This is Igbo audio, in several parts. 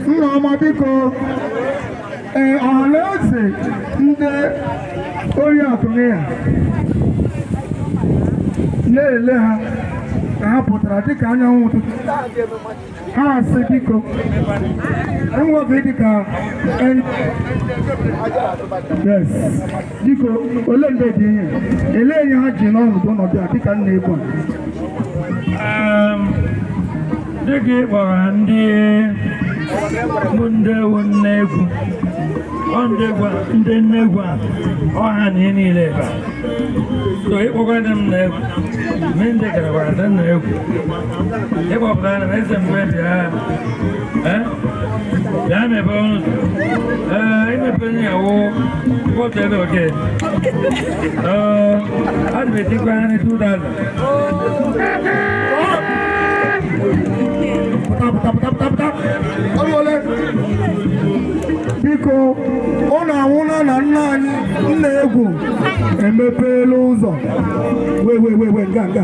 nne ọma biko ee ọhanaeze ndị oriakụ ya na-ele ha ka ha pụtara dịka anyanwụ ụtụtụ ha asị biko enweghị dịka yes biko ole mgbe dị ihe ele ihe ha ji n'ọnọdụ ọnọdụ a dịka nne egwu dịka ị kpọrọ ndị bụ ndị ewu nne egwu ndị nne egwu a ọha na ihe niile ebe a so ịkpọkwa ndị nne egwu mee ndị gara gwara ndị nne egwu ịkpọpụtara m eze mgbe bịa eh? bịa mepee ọnụ ee eh, imepe onye ya wụ kpọta ebe oke eh, adị m etikwa anyị 2000 biko ụlọ anwụla na nna anyị nne egwu emepeela ụzọ wee wee wee wee nga nga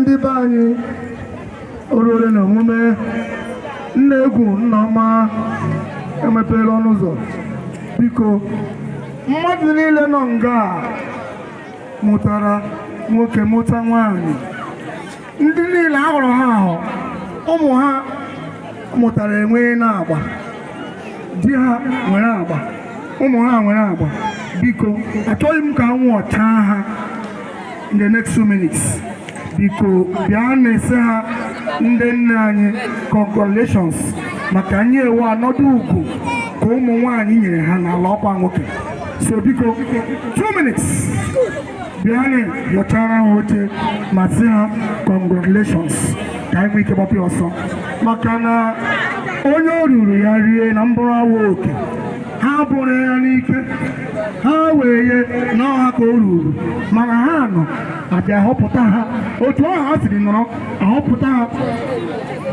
ndị be anyị o ruole na emume nne egwu nne ọma emepeela ọnụ ụzọ biko mmadụ niile nọ nga a mụtara nwoke mụta nwaanyị ndị niile a họrọ ha ahọ ụmụ ha mụtara enweena agba di ha nwere agba ụmụ ha nwere agba biko achọghị m ka anwụ chaa ha in the next two minutes biko bịanị sị ha ndị nne anyị congratulations maka na ihe a wụ ọnọdụ ukwu ka ụmụ nwaanyị nyere ha n'ala ọkwa nwoke so biko 2 minutes bịanị nyọchara ha oche ma sị ha congratulations ka anyị nwee ike gbapụ ọsọ maka na onye o ruuru ya rie na mbụrụ awa oke ha bụrụ ya n'ike ha wee ye na ọha ka o ruuru mana ha anọ a bịa họpụta ha otu ahụ ha siri nọrọ a họpụta ha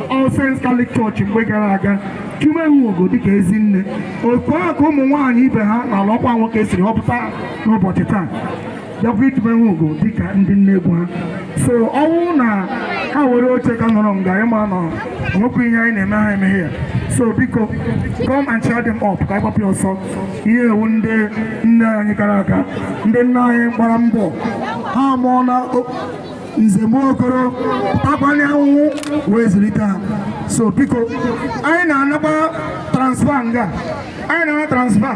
All Saints Catholic Church mgbe gara aga tumee ugo dịka ezi nne otu ahụ ka ụmụ nwaanyị ibe ha n'ala ọkwa nwoke siri họpụta ha n'ụbọchị taa bịakwa itume ugo dịka ndị nne egwu ha so ọ wụ na ha were oche ka nọrọ nga ịma nọ o nwekwa ihe anyị na-eme ha emeghe ya so biko come and cheer them up ka anyị gbapụ ya ọsọ ihe a wụ ndị nna anyị kara aka ndị nna anyị gbara mbọ ha mụọ na nze m okoro akwanye anwụ wee zụlite ha so biko anyị na-anakwa transfer nga anyị na-ana transfer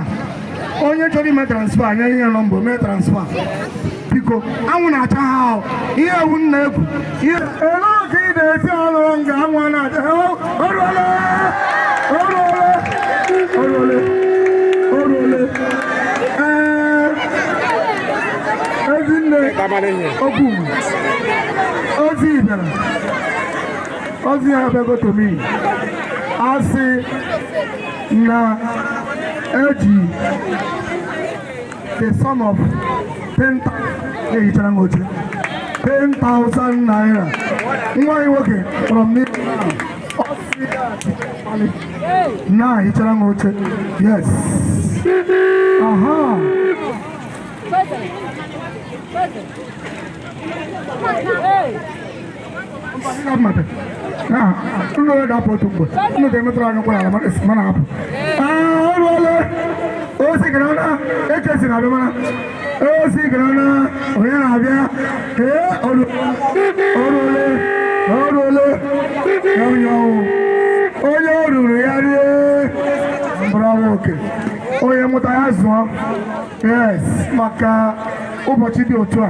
onye chọrọ ime transfer anyị enye nọmba mee transfer biko anwụ na-acha ha ahụ ihe ewu nna egwu ihe olee otu ị na-esi ọrụ nga anwụ na-acha ha oruole oruole oruole oruole ee ezinne okwu ozi ibere ozi ya abịago to me a sị na e ji the sum of 10,000 ehichara m oche 10,000 naira nwa anyị nwoke kpọrọ m n'ihu na hichara m oche yes aha Hey! unu wee ga-apụ otu mgbe unu ga-emetụrụ anyị ụkwara ala mana apụ oruole osi gara na ekesi na abịa mana osi gara na onye na-abịa ee oruole oruole onye ọnwụ onye o ruru ya rie mkpụrụ ọnwa oke onye mụta ya zụọ yes maka ụbọchị dị otu a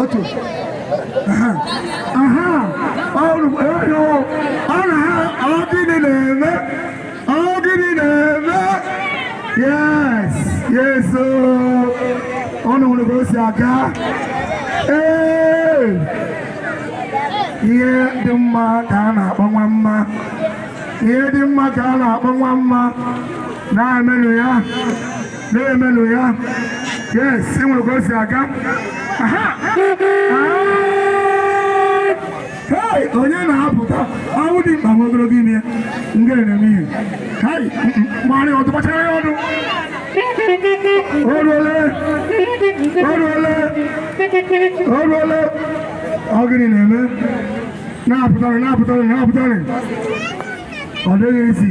otu aha aha ọrụ ọrụ ọrụ ha ọ gịnị na-eme ọ gịnị na-eme yes yes ụnụ hụrụ ka o si aga ee ihe dị mma ka a na-akpọ nwa mma ihe dị mma ka a na-akpọ nwa mma na-emenụ ya na-emenụ ya yes ị nwere ka o si aga aha Hey, onye na-apụta ọnwụ dị mkpa nwa ogologo ime ya nga na-eme ihe hai mmanụ ọdụ gbachara ya ọdụ oruole oruole oruole ọ gịnị na-eme na-apụtanụ na-apụtanụ na-apụtanụ ọ dịghị easy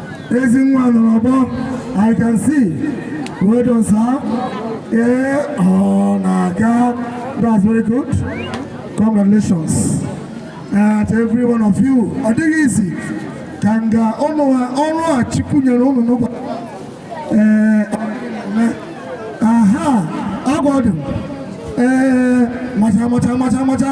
ezi nwa nọ n'ọgbọ i can see well done sir ee ọ na-aga that's very good congratulations at every one of you ọ dịghị easy ka nga ụnụ ha ọṅụ a chukwu nyere ụnụ n'ụbọchị ee aha agwa ọdụ ee macha macha macha macha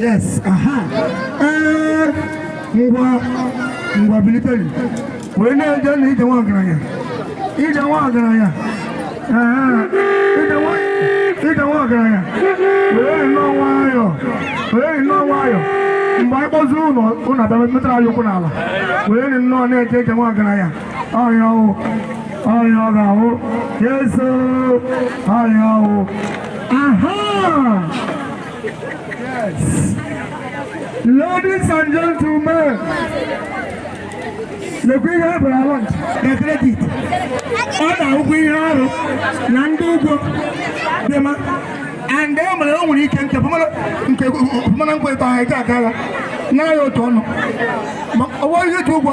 Yes, aha. Ee, ngwa ngwa biliteri wee na-eje na ije nwa ọgaranya ije nwa ọgaranya ee, ije nwa- ije nwa ọgaranya were nnọọ nwayọ were nnọọ nwayọ mgbe anyị kpọzuru ụlọ ụlọ abịa metara anyị ụkwụ n'ala were nnọọ na-eje ije nwa ọgaranya ọrịa ọ wụ ọrịa ọ ga-awụ yes o ọrịa ọ wụ Ladies and gentlemen, lekwa ihe a bụrụ awọd na credit ọ na ụgwọ ihe ọrụ na ndị ụgwọ dị mma and e mere o nwere ike nke mana nkwe tọ ha ike akara naghị otu ọnụ ma ọ bụrụ ihe ji ụgwọ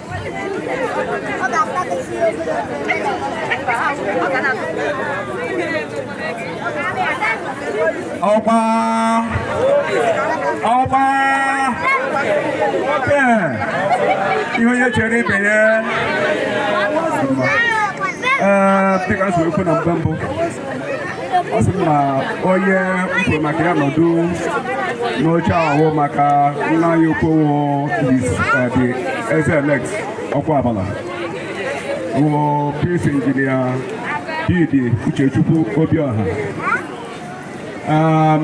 ọgba ọgba nwoke ihe onye chere ibe ya ee dịka nsogbu na mgbe mbụ ọ sị na onye mkwe maka ya nọdụ n'oche ahụ maka nna ya okwowo dị eze elect Okwuabala wụ Prince injinia BD Uchechukwu Obioha um,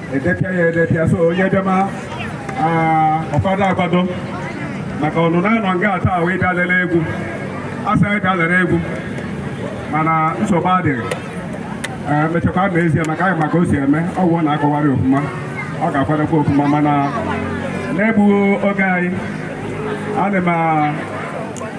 edepịa ya edepịa so onye bịama ọ kwado akwado maka ọ nụ na a nọ nga taa wee bịa lere egwu a sị ya bịa lere egwu mana nsogbu adịghị emechakwa ma ezie maka anyị ma ka o si eme ọ wụ na akọwarị ọfụma ọ ga-akwadokwa ọfụma mana n'egbughị oge anyị ana m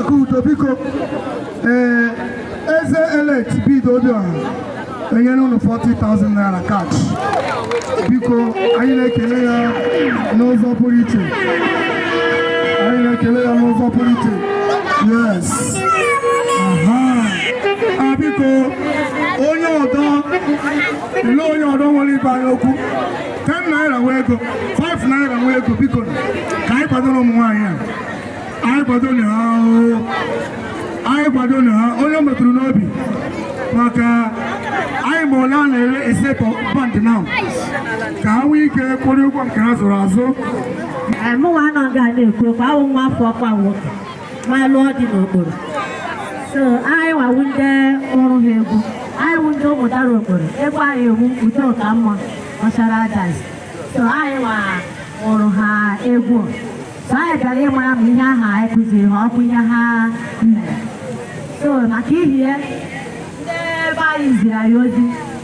Akudo biko ee eze elect BD Obiọha enyere unu 40,000 naira cash biko anyị na-ekele ya n'ụzọ pụrụ iche anyị na-ekele ya n'ụzọ pụrụ iche yes aha a biko onye ọdọ ele onye ọdọ nwere ịgwa anyị okwu 10 naira wụ ego 5 naira wụ ego biko ka anyị kwadoro ụmụ nwaanyị a anyị kwadonụ ha anyị kwadonụ ha onye metụrụ n'obi maka anyị ma ole a na-ere a set of band now ka ha nwee ike kwụrụ ụgwọ nke ha zụrụ azụ mụnwa nọ nga a na-ekwu okwu awụ nwa afọ ọkwa nwoke ma lụọ di n'Okporo so anyị wa wụ ndị mụrụ ha egwu anyị wụ ndị Ụmụdara Okporo egwu anyị ọ wụ udo ka mma ọchara ajazi so anyị wa mụrụ ha egwu so anyị bịara ịmara ma ihe aha anyị kụziri ha ọ wụ ihe ha mere so maka ihe ndị be anyị ziri anyị ozi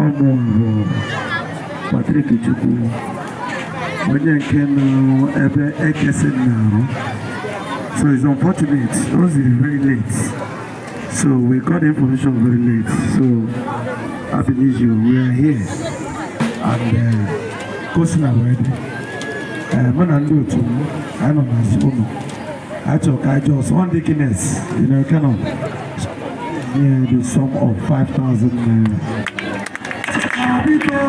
ọ mụ bụ Patrick Chukwu onye nke nọ ebe ekesi na-arụ so it's unfortunate o ziri very late so we got the information very late so happy new year we are here and uh, ka o sila wee dị mụ na ndị otu m anyị nọ n'azụ ụlọ a chọrọ ka anyị just one dikines you know kind of near the sum of 5,000 naira. biko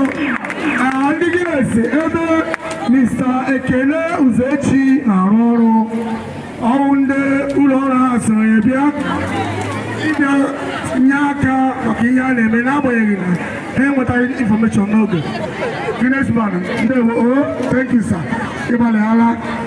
na ndị Guinness ebe Mr. Ekele Uzechi na-arụ ọrụ ọrụ ndị ụlọ ọrụ ha sịrị ya bịa ịbịa nye aka maka ihe a na-eme n'agbanyeghị na ha enwetaghị information n'oge Guinness man ndewo o thank you sir ị gbalịala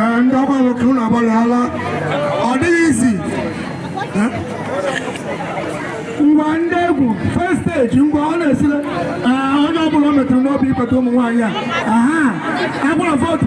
ee ndị ọgba nwoke unu agbalịala ọ dịghị easy ngwa ndị egwu first stage ngwa ọ na-esile ee onye ọbụla o metụrụ n'obi ịkpata ụmụ nwaanyị a aha agbara vootu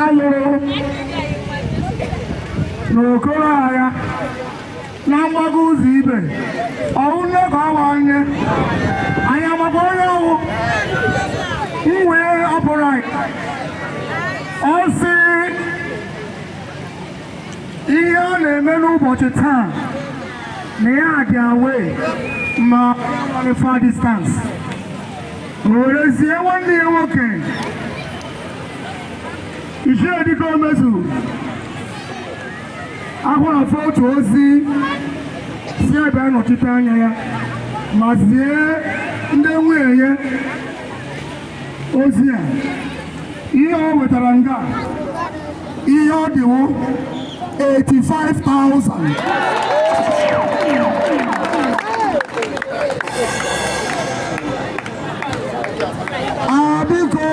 a lụrụ n'okoro agha na mgbago ụzọ ibe ọ wụ nne ka ọ bụ onye anyị amakwa onye ọ wụ m wee ọpụrụ anyị ọ sị ihe ọ na-eme n'ụbọchị taa na ya dị away ma far distance o were zie nwanne ya nwoke ichie dịka omezu ahụrụ afọ otu ozi sị ya bịa nọchite anya ya ma zie ndị nwunye ya ozi a ihe o wetara nga ihe ọ dị wụ 85,000 a biko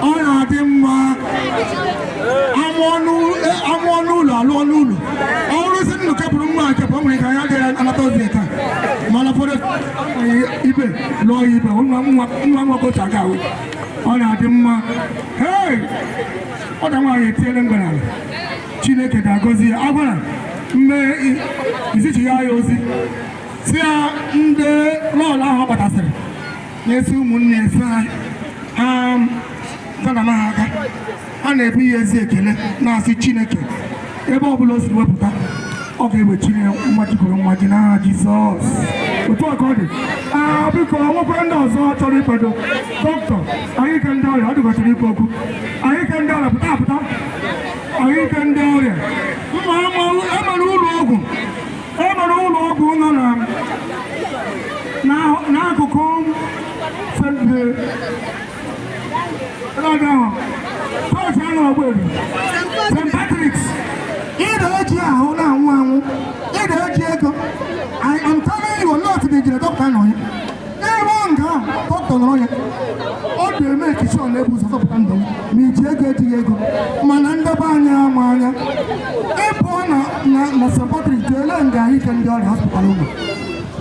ọ na-adị mma a mụọ n'ụlọ a lụọ n'ụlọ ọ bụrụzi nnụ kepụrụ nwa nke bụ o nwere ka ya adịghị anata ozi taa mana fọdụ ibe lụọ ya ibe nwa nwoke otu aka ahụ ọ na-adị mma ee ọda nwaanyị etiele mgbere ala chineke ga-agọzi ya agwara mgbe izichi ya ya ozi sị ya ndị lọọlọ ahụ ọ gbatasịrị na-esi ụmụnne esi ha ha um, zana ha aka a na-ebu ya ezi ekele na-asị Chineke ebe ọ bụla o si wepụta ọ ga-ewechiri ya mmaji kwuru mmaji n'aha Jizọs otu a ka ọ dị aa biko nwekwara ndị ọzọ chọrọ ịkwado dọkịta ahụike ndị ọrịa ọ dị ka ọ chọrọ ikwu okwu ahụike ndị ọrịa pụta apụta ahụike ndị ọrịa mma emere ụlọ ọgwụ emere ụlọ ọgwụ nọ n'akụkụ St. Patrick's ịda eji ahụ na-anwụ anwụ ịda eji ego I am telling you not the jere dọkịta nọ ya n'ebe ọ nga dọkịta nọrọ ya ọ ga-eme ekichi ọ na-ebu ụzọ zọpụta ndụ ma e ji ego ejighị ego mana ndebe anya ama anya ịpụọ na na St. Patrick jee lee nga ahụike ndị ọrịa hospital ụmụ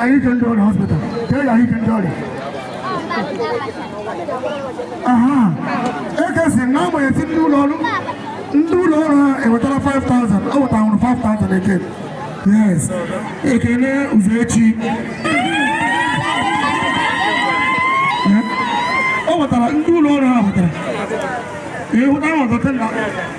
ahụike ndị ọrịa hospital ka e ahụike ndị ọrịa aha ekesi na agbanyeghị ndị ụlọ ọrụ ndị ụlọ ọrụ ha ewetara 5000 ọ wetara nwụrụ 5000 eke yes ekele ụzọ echi ọ wetara ndị ụlọ ọrụ ha wetara ịhụta ahụ ọzọ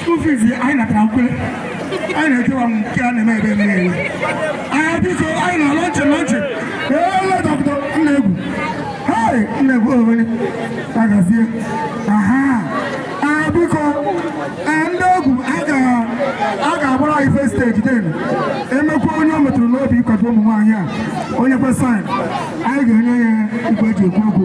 school fees anyị natara nkwe anyị na-ekewa nke a na-eme ebe mmiri ewe anyị biko anyị na lọnchị lọnchị ele dọkịta ndị egwu hei ndị egwu owere agazie aha anyị biko ndị egwu a ga-agbara anyị first stage then e mekwaa onye o metụrụ n'obi ịkwado ụmụ nwaanyị a o nyekwa sign anyị ga-enye ya igwe eji ekwu okwu